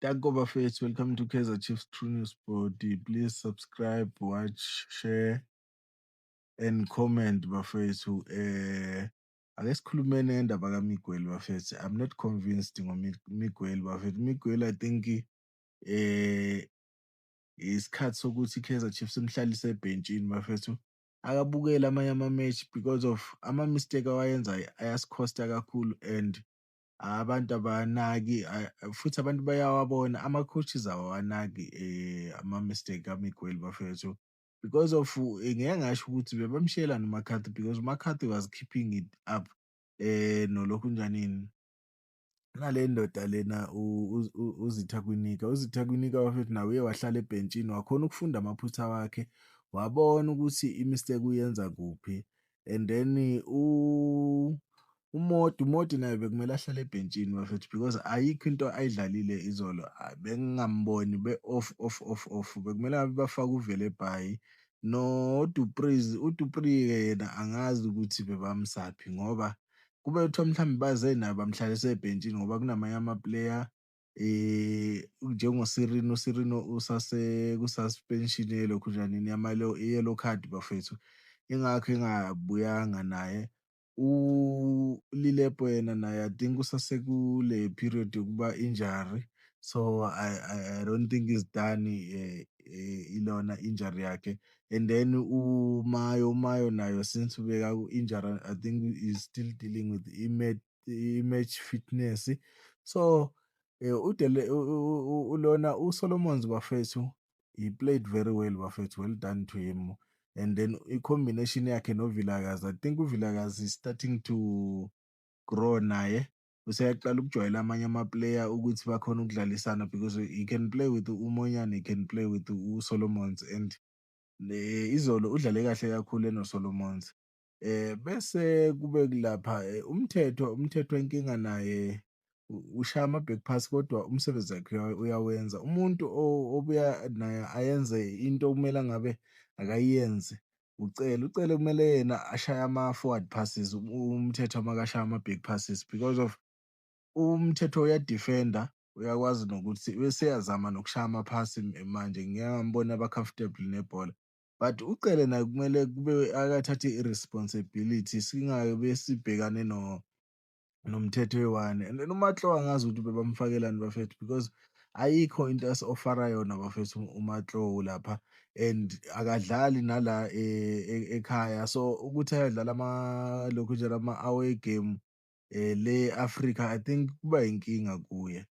Danko bafethu, welcome to Kaizer Chiefs True News Body. Please subscribe, watch, share and comment bafethu. Eh ake sikhulumeni ngendaba kaMiguel bafethu. I'm not convinced ngoMiguel bafethu. Miguel I think eh isikhathi sokuthi Kaizer Chiefs imhlalise ebhentshini bafethu. Akabukele amanye ama-match because of ama-mistake awayenzayo ayasicosta kakhulu and Abantu abawanaki futhi abantu bayawabona ama-coaches awawanaki um ama-mistake kaMiguel bafethu because of eh, ngeke ngasho ukuthi bebamshelani uMcCarthy because uMcCarthy was keeping it up eh nolokhu njanini nale ndoda lena uzitha kwinika uzitha kwinika bafethu nawe uye wahlala ebhentshini wakhona ukufunda amaphutha wakhe wabona ukuthi imistake uyenza kuphi and then u uModi uModi naye bekumele ahlale ebhentshini bafethu because ayikho into ayidlalile izolo ah, bengingamboni be-off off off off bekumele ngabe bafake uvele bhayi nodupriz uduprike yena angazi ukuthi bebamsaphi ngoba kube kuthiwa mhlawumbe baze naye bamhlalise ebhentshini ngoba kunamanye amaplayer eh njengosirino usirino usase kususpension yelokhu njanini yamalo yellow card bafethu ingakho engabuyanga naye uLilepo yena naye I think usasekule period yokuba injury so I, I, I don't think is done eh, eh, ilona injury yakhe and then uMayo uMayo nayo since ubeka ku-injury I think is still dealing with imet match fitness so eh, udele ulona uSolomons bafethu he played very well bafethu well done to him and then i-combination yakhe novilakazi i think uvilakazi is starting to grow naye useyaqala ukujwayela amanye amaplayer ukuthi bakhona ukudlalisana because he can play with umonyane he can play with usolomons and izolo udlale kahle kakhulu enosolomons Eh, bese kube kulapha eh, uMthethwa uMthethwa inkinga naye u- ushaya ama-back pass kodwa umsebenzi wakhe uya- uyawenza. Umuntu o- obuya naye ayenze into okumele angabe akayenzi uCele. UCele kumele yena ashaye ama-forward passes um- uMthethwa makashaya ama-back passes because of uMthethwa uyadefenda uyakwazi nokuthi useyazama nokushaya amaphasi m- manje ngeke ngambona aba-comfortable nebhola. but ucele naye kumele kube akathathe i-responsibility singabe sibhekane no nomthetho wewani and then umatlowa angazi ukuthi bebamfakelani bafethu because ayikho into esi-ofara yona bafethu umatlowu lapha and akadlali nala e, e, ekhaya so ukuthi ayodlala lokhu njena ama-away game um le-afrika i think kuba yinkinga kuye